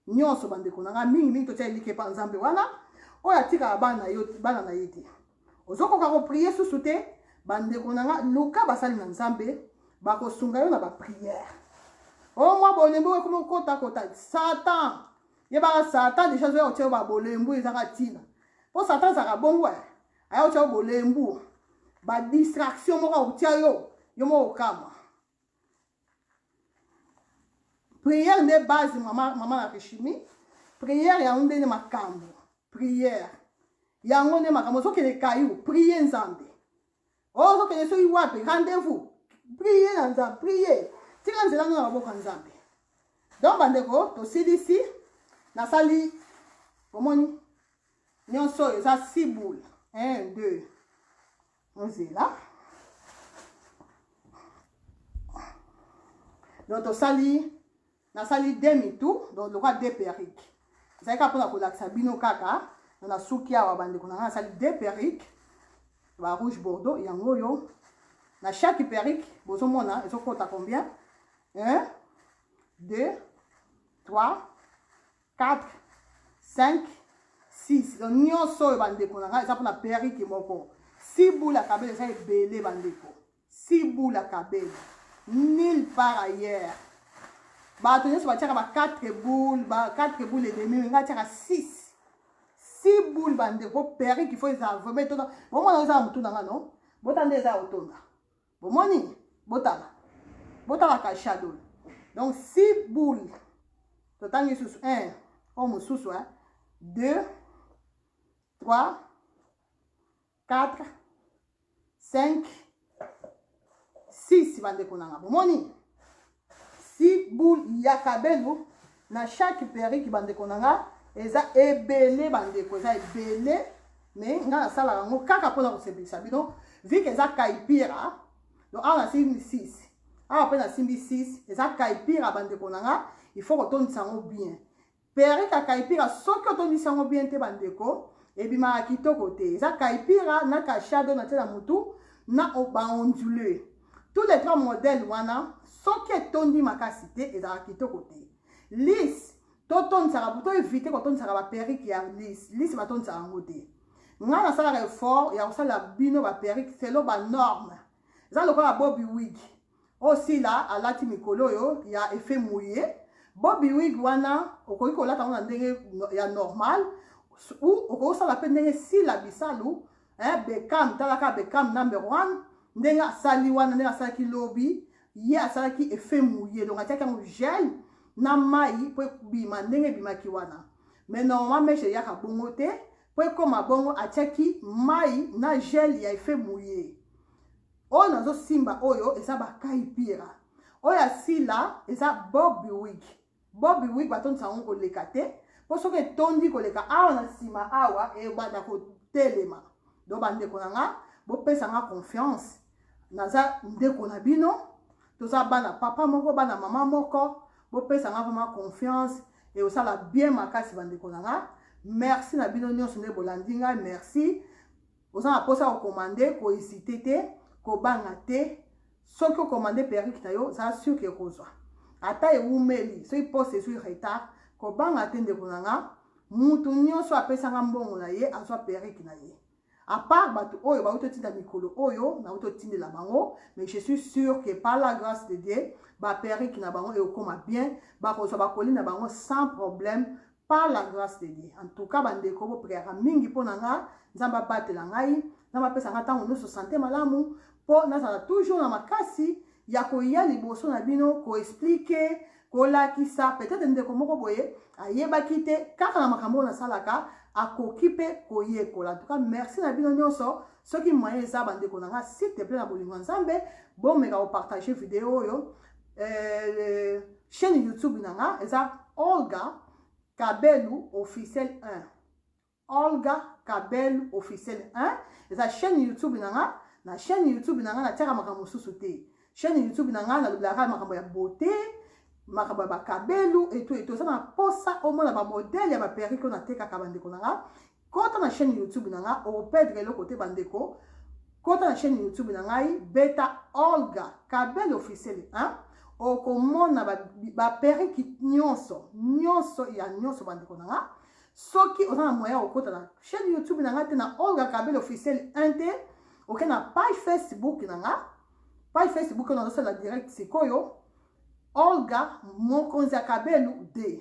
Nionso bandeko na nga mingi mingi totia elike pa Nzambe wana oyo atikaka bana na yo bana na ye te. Ozokoka kopriye susu te bandeko na nga luka basali na Nzambe bakosunga yo na bapriere. Omwa bolembo ekomi okota kota satan yebaka satan deja azoya kotia yo babolembu ezaka ntina mpo satan azalaka bongo eh. aya kotia yo bolembu badistraction moko akotia yo yo moko okama priere nde base mama, mama na rishimi priere yango nde nde makambo priere yango nde makambo ozokende kayu priye nzambe Oh, ozo kende soki wapi rendez-vous priye na nzambe priye tika nzela ngo na maboko ya nzambe donc bandeko tosilisi nasali omoni nyonso oyo eza siboule 1 2 ozela donc tosali Nasali demi tour donc lokola de perruque. Ezali kaka mpona kolakisa bino kaka donc nasuki awa bandeko na ngai nasali de perruque ba rouge bordeaux yango oyo na chaque perruque bozomona ezokota combien 1 2 3 4 5 6 donc nyonso oyo bandeko na ngai eza mpona perruque moko si bula kabela eza ebele bandeko Si bula kabelo nul part ailleurs bato nyonso batiaka ba 4 boule ba 4 boule et demi nga atiaka 6 si boule bandeko po perruque faut eza vraiment etonda bomona eza na motu na nga no bota nde eza ya kotonda bomoni botala botalaka shadow donc si boule totangi lisusu 1 oyo mosusu 2 3 4 5 6 bandeko na nga bomoni si boule ya kabelo na chaque perike bandeko na nga eza ebele bandeko eza ebele me nga nasalaka yango kaka mpona kosepelisa bino vike eza kaipira donc awa nasimbi 6 awa mpe nasimbi 6 eza kaipira bandeko na nga il faut kotondisa yango bien Perika kaipira soki otondisi yango bien te bandeko ebimaka kitoko te eza kaipira na kashado na tie na mutu na baondule tous les trois modèle wana soki etondi makasi te ezalaka kitoko te lise totondisaka to evite kotondisaka baperike ya lise lise batondisaka yango te ngai nasalaka effort ya kosalela bino baperike selo banorme eza lokola bobi wigi Oyo sila alati mikolo oyo ya effet mouille bobi wig wana okoki kolata ngo na ndenge ya normal ou okoki kosala mpe ndenge sila bisalu eh, bekam talaka bekam number one ndenge asali wana ndenge asalaki lobi ye asalaki effet mouille donc atiaki yango gel na mai mpo ebima ndenge ebimaki wana mais normalement meshe eyaka bongo te mpo ekoma bongo atiaki mai na gel ya effet mouille Oyo nazo simba oyo eza ba kai pira. Oyo asila eza Bobby Wig. Bobby Wig batondisa yango koleka te. Po soki etondi koleka awa na sima awa ebanda kotelema. Donc bandeko na nga bopesa nga confiance. Naza ndeko na bino. Toza bana papa moko bana mama moko. Bopesa nga vraiment confiance. Et osala bien makasi bandeko na nga. Merci na bino nionso nde bolandi nga. Merci. oza na posa ko commander ko hésiter te ko banga te soki o commander perruque na yo za sûr que okozwa ata ewumeli soki poste ezwi retard kobanga te ndeko na nga mutu nyonso apesanga mbongo na ye azwa perruque na ye apart bato oyo bauti otinda mikolo oyo nauti otindela bango mais je suis sûr que par la grâce de dieu baperike na bango ekokoma bien bakozwa bakoli na bango sans problème par la grâce de Dieu. En tout cas, bandeko, bo priaka mingi mpo na nga, Nzambe abatela ngai, Nzambe apesa nga ntango nyonso sante malamu, mpo nazala toujours na makasi ya koya liboso na bino koexplike kolakisa peut-être ndeko moko boye ayebaki te kaka na makambo oyo nasalaka akoki mpe koyekola tuka merci na bino nyonso soki moyen eza bandeko na nga s'il te plaît na bolingo ya nzambe bomeka kopartage video oyo euh, chaîne youtube na nga eza olga kabelu officiel 1 olga kabelu officiel 1 eza chaîne youtube na nga na chaîne youtube na nga natiaka makambo mosusu te chaîne youtube na nga nalobelaka makambo ya beauté makambo ya bakabelu etu etu eza na mposa omona bamodele ya baperike oyo natekaka bandeko na nga Kota na chaîne YouTube na nga au perdre eloko te bandeko. Kota na chaîne YouTube na ngai Beta Olga Kabel officiel hein. Okomona ba, ba perruque nyonso nyonso ya nyonso bandeko na nga. Soki oza na moyen okota na chaîne YouTube na nga te na Olga Kabel officiel 1 te. Oke na page Facebook na nga. Page Facebook na zosala direct sikoyo. Olga Mokonzi ya Kabelu 2.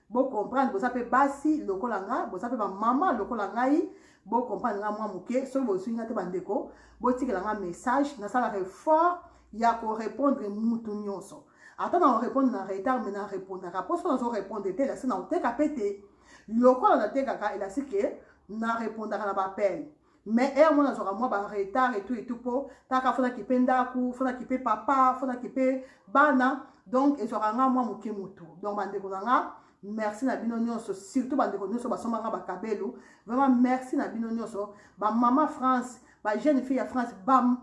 Bo comprendre boza pe basi lokola nga, boza pe ba mama lokola ngai. Bo comprendre nga mwa moke, soki bosuki nga te ba ndeko, botikela nga message, nasalaka effort ya ko répondre mutu nyonso. Ata na répondre na retard mais na répondaka. Po soki nazo répondre te, elasi na koteka pe te. Lokola natekaka, elasi ke na répondaka na ba appels. mais heure mwana azwaka mwa ba retard etout etout mpo kaka fona kipe ndako fona kipe papa fona kipe bana donc ezwaka nga mwa moke motu donc bandeko na nga merci na bino nyonso surtout bandeko nyonso basomba nga bakabelo vraiment merci na bino nyonso bamama france bajeune fille ya france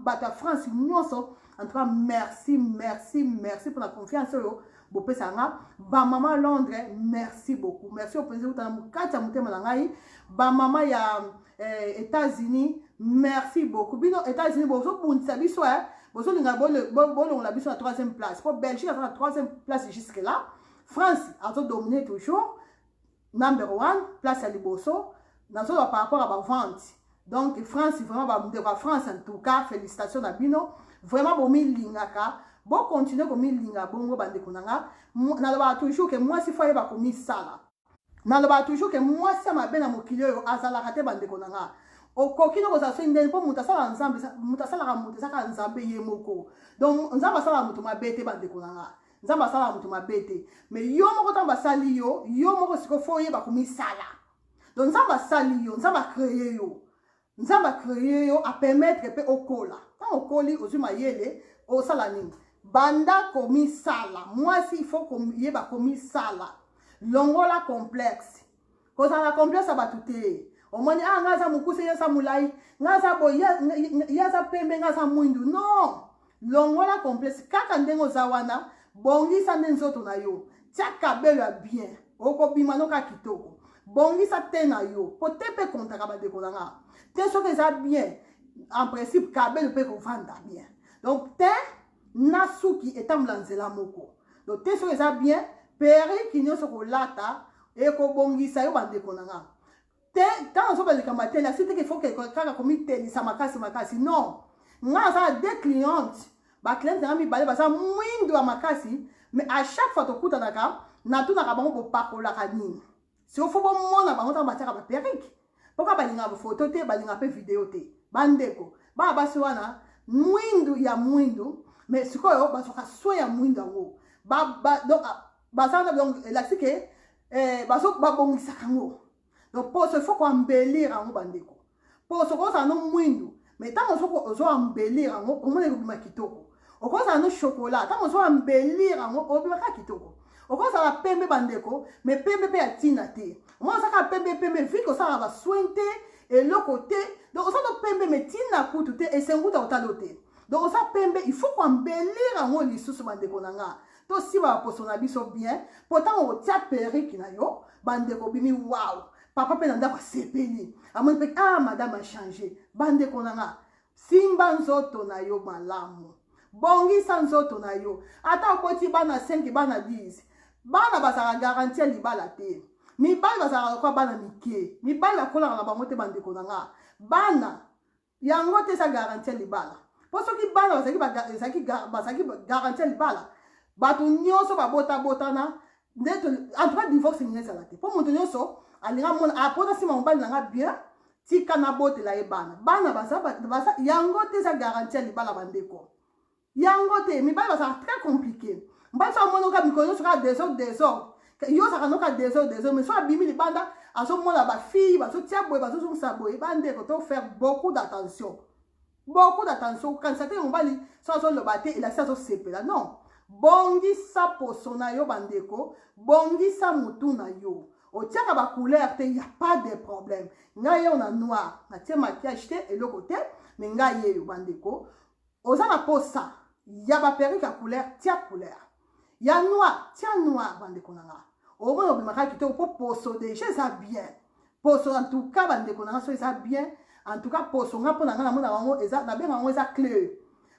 bato ya france nyonso en tout cas merci merci merci mpona confiance oyo bopesa nga bamama londres merci beaucoup merci oyo mpenza euta na kati ya motema na ngai bamama ya eh, États-Unis merci beaucoup bino États-Unis bozobundisa biso eh? bozolinga bolongola biso na troisième place mpo Belgique aza na troisième place jusque là France azodomine toujours number one place ya liboso nazoloba par rapport ya bavente donc France vraiment bandeko ya France en tout cas félicitation na bino vraiment bomilingaka bokontinue komilinga bongo bandeko na nga nalobaka toujours ke mwasi fo ayeba komisala nalobaka toujours ke mwasi ya mabe na mokili oyo azalaka te bandeko na nga okoki no kozala soki ndeni mpo moto asalaka nzambe moto asalaka moto eza kaka nzambe ye moko donc nzambe asalaka moto mabe te bandeko na nga nzambe asalaka moto mabe te mais yo moko ntango basali yo yo moko sikoyo fo oyeba komisala donc nzambe asali yo nzambe akreye yo nzambe a cree yo a permettre mpe okola ntango okoli ozwi mayele osala nini banda komisala mwasi ifo koyeba komisala longola complexe kozala na complexe ya bato te omoni a ah, ngai aza mokuse ye aza molai ngai aza boye ye aza pembe ngai aza mwindu non longola complexe kaka ndenge oza wana bongisa nde nzoto na yo tia kabelo ya bien okobima no kaka kitoko bongisa te na yo po te mpe kontaka bandeko na nga te soki eza bien en principe kabelo mpe kovanda bien donc te na suki etambola nzela moko donc te soki eza bien periki nyonso kolata ekobongisa yo bandeko na nga te ntango azoba likambo ya tele asili teke foke kaka komitelisa makasi makasi non ngai aza na deux cliente bacliente na ngai mibale baza mwindo ya makasi mais à chaque fois tokutanaka natunaka bango bopakolaka nini siko fo bomona bango ntango batiaka baperike mpo kaka balingaka bafoto te balingaka mpe video te bandeko bana basi wana mwindu ya mwindu mais sikoyo bazwaka soin ya mwindu yango donc baza na donc elakisi ke eh, bazo babongisaka yango donc mpo so faut koambelire yango bandeko mpo soki ozala no mwindu mai ntango soki ozoambelire yango omona ekobima kitoko okozala no shokola ntango ozoambelire yango obimaka kitoko okozala pembe bandeko mai pembe mpe ya ntina te omona ozaka pembe pembe vike osalaka basoin te eloko te donc oza no pembe mai ntina kutu te esenguta otali yo te donc oza pembe il faut koambelire yango lisusu bandeko na ngai tosiba baposo na biso bien mpo ntango otia perike na yo bandeko obimi waw papa mpe na ndako asepeli amoni mpe a ah, madame achange bandeko na nga simba nzoto na yo malamu bongisa nzoto na yo ata oboti bana 5 bana 10 bana bazalaka garanti ya libala te mibali bazalaka lokola bana mike mibali bakolaka na bango te bandeko na nga bana Yango te eza garanti ya libala. Po soki bana bazalaki bazalaki bazalaki garanti ya libala, bato nyonso babota botana nde en tout cas divorce nini ezala te. Po moto nyonso alinga mona apona ah, sima mobali na nga bien tika nabotela ye bana. Bana baza baza yango te eza garanti ya libala bandeko. yango te mibali bazalaka très compliqué mbali so amoni oka mikolo nyonso kaka desordre desordre yo ozalaka noka desordre desordre mais so abimi libanda azomona bafille bazotia boye bazozongisa boye bandeko to faire beaucoup d'attention beaucoup d'attention kokanisa te mobali so azoloba te elasi azosepela non bongisa poso na yo bandeko bongisa motu na yo otiaka bacouleur te ya pas de problème ngai yeo na noir natie maquillage te eloko te me ngai yeyo bandeko Oza na posa ya ba perruque ya couleur tia couleur ya noir tia noir bandeko na nga omona obimaka kitoko mpo poso deja eza bien poso en tout cas bandeko na nga so eza bien en tout cas poso nga mpo na nga namona yango eza nabenga yango eza cleur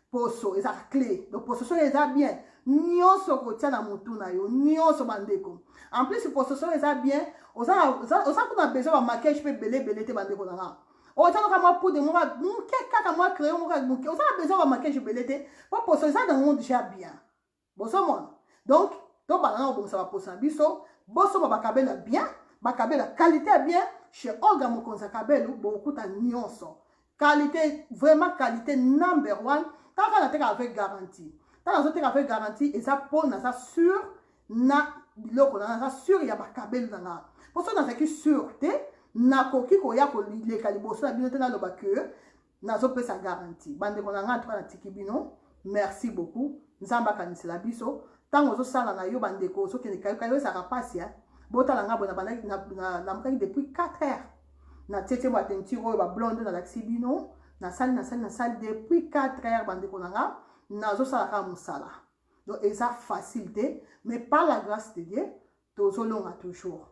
poso eza cle donc poso soki eza bien nyonso kotia na motu na yo nyonso bandeko en plus poso soki eza bien oza kuna besoin bamakiage mpe ebele ebele te bandeko na nga oza kaka mwa poudre moko moke kaka mwa crayon moko moke oza na besoin bamakiage ebele te mpo poso eza na yango deja bien bozomona donc tobanda na kobongisa baposo na biso bosomba bakabelo ya bien bakabelo ya kalite ya bien chez olga mokonzi ya kabelo bokokuta nyonso kalite vraiment kalite number one kaka nateka avec garantie ntango nazoteka avec garantie eza mpo naza sur na biloko na naza sur ya makabelu na nga mpo soki nazalaki sur te nakoki koya koleka liboso na bino te naloba ke nazopesa garanti bandeko na nga ntuka natiki bino merci beaucoup nzambe akanisela biso ntango ozosala na yo bandeko ozokende kayokayo ezalaka mpasi ya botala nga boye namukaki depuis 4 heures na tietie ba teinture oyo bablonde nalakisi bino nasali nasali nasali depuis 4 heures bandeko na nga nazosala kaka mosala donc eza facile te mais par la grâce de dieu tozolonga toujours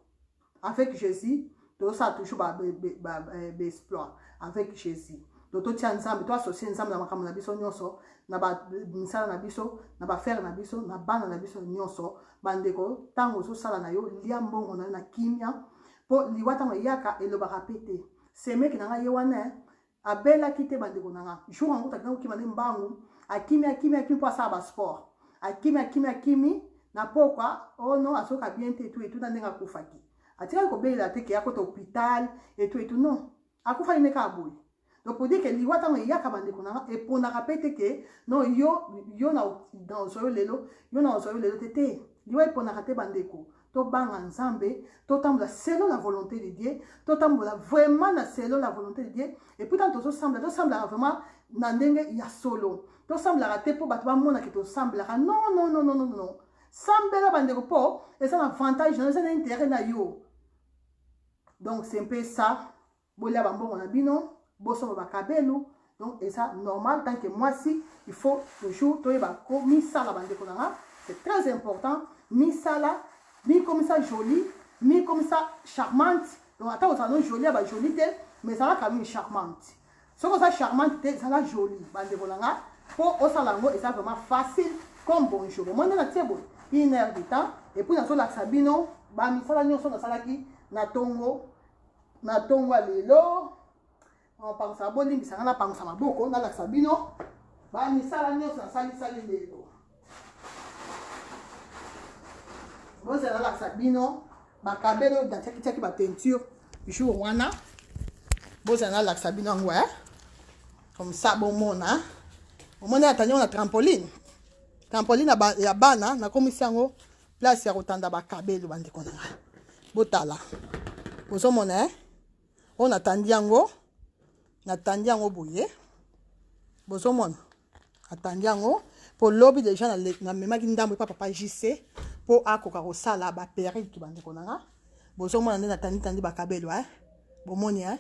avec jésus tozosala toujours baexploit eh, avec jésus donc totya nzambe toasocie nzambe na makambo na biso nyonso na bamisala na biso na bafere na biso na bana na biso nyonso bandeko ntango ozosala na yo lia mbongo na yo na kimia mpo liwa ntango eyaka elobaka mpe te semeki na ngai ye wana eh, abelaki te bandeko na nga jour yango takenda kokima nde mbangu akimi akimi akimi mpo asala basport akimi akimi akimi na pokwa ono oh azoka bien te etu etu na ndenge akufaki atikaki kobelela te ke akota hopital etu etu non akufaki nde kaka boye donc pour dire ke liwa ntango eyaka bandeko na nga eponaka mpe te ke non yo yo na ozwa yo lelo yo na ozwa yo lelo te te liwa eponaka te bandeko tobanga nzambe totambola selon la volonté de dieu totambola vraiment na selon la volonté de dieu epuis ntango tozosambla tosamblaka vraiment na ndenge ya solo tosamblaka te mpo bato bamonake tosamblaka non non non non non sambela bandeko mpo eza na avantage na yo eza na intérêt na yo donc c'est mpe ça bolia ba mbongo na bino bosomba ba kabelu donc eza normal tant que mwasi il faut toujours toyeba ko misala bandeko na nga c'est très important misala mikomisa jolie mikomisa charmante donc ata ozala no jolie ya ba jolie te mais ezalaka nini charmante soki oza charmante te ezala jolie bandeko na nga mpo osala yango eza vraiment facile comme bonjour bomoni na tie boye une heure de temps epuis nazolakisa bino bamisala nyonso nasalaki na ntongo na tongo ya lelo pangusa bolimbisa ngai napangusa maboko nalakisa bino bamisala nyonso nasalisali lelo bozela nalakisa bino bakabele oyo datiakitiaki bapeinture jour wana bozela nalakisa bino yango e eh? comme ça bomona omoni ata nyongo na trampoline trampoline ya bana nakomisi yango place ya kotanda bakabelo bandeko na ngai botala bozomona e eh? oyo natandi yango natandi yango boye bozomona atandi yango mpo lobi deja namemaki ndambo epa papa jc mpo akoka kosala baperike bandeko na nga bozomona nde natanditandi bakabelo e eh? bomoni e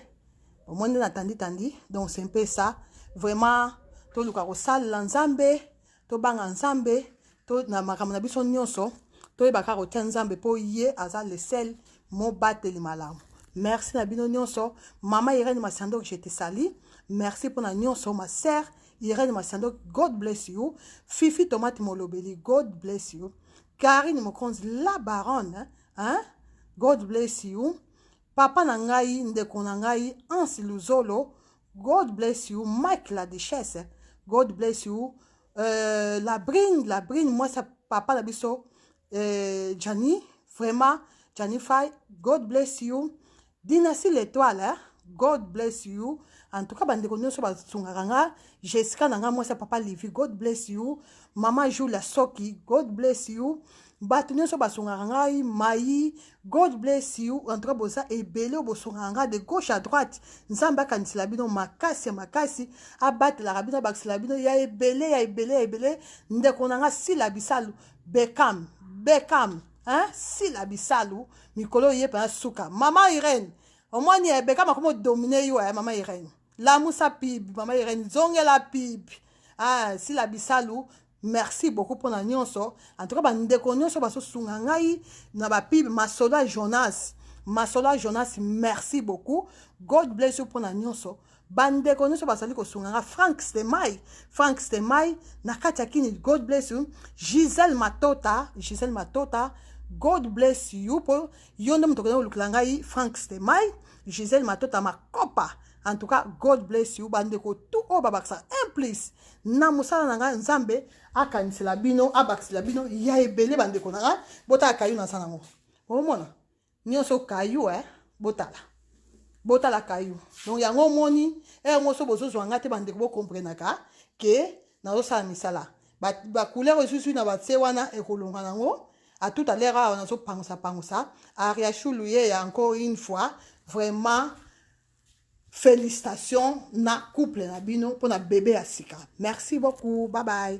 bomoni nde natanditandi donc se mpe sa vraiment toluka kosalela nzambe tobanga nzambe to na makambo na biso nyonso toyeba kaka kotya nzambe mpo ye aza le sel mobateli malamu merci na bino nyonso mama irene masiandok je te sali merci mpo na nyonso ma sœur irene masiandok god bless you fifi tomate molobeli god bless you karine mokonzi la baronne hein? god bless you Papa na ngai ndeko na ngai Hans Luzolo God bless you Mike la duchesse God bless you euh, la brine la brine moi ça papa na biso euh, Gianni vraiment Gianni Fay God bless you Dynastie l'étoile hein? God bless you en tout cas bandeko nyonso basungaka nga Jessica na nga mwasi ya papa Livy God bless you mama Julia Soki God bless you bato nyonso basungaka ngai mayi god bless you en tout cas boza ebele oyo bosungaka ngai de gauche à droite nzambe akanisela bino makasi ya makasi abatelaka bino abakisela bino ya ebele ya ebele ya ebele ndeko na ngai sila bisalu bekam bekam hein? sila bisalu mikolo ye mpenza suka mama irene omoni eh, bekam akomi odomine yo ya eh, mama irene lamusa pibi mama irene zongela pibi ah, sila bisalu Merci beaucoup pona nionso en tout cas ba ndeko nionso baso sunga ngai na ba pub masoda Jonas masoda Jonas merci beaucoup God bless you pona nionso bandeko nyonso bazali kosunga nga frank stemai frank stemai na kati ya kini god bless you gisele matota gisele matota god bless you mpo yo nde moto okenda kolukela ngai frank stemai gisele matota makopa en tout cas god bless you bandeko tu oyo babakisaka un plus na mosala na ngai nzambe akanisela bino abakisela bino ya ebele bandeko na ngai botala kayu naza nango omona nyonso kayu e eh? botala botala kayu donc yango omoni e yango so bozozwa ngai te bandeko bokomprenaka ke nazosala misala bacouleur esusu na batse wana ekolonga nango à tout à l'heure awa nazopangusa pangusa ariachulu ye ya encore une fois vraiment Félicitations na couple na bino pona bebe ya sika. Merci beaucoup. Bye bye.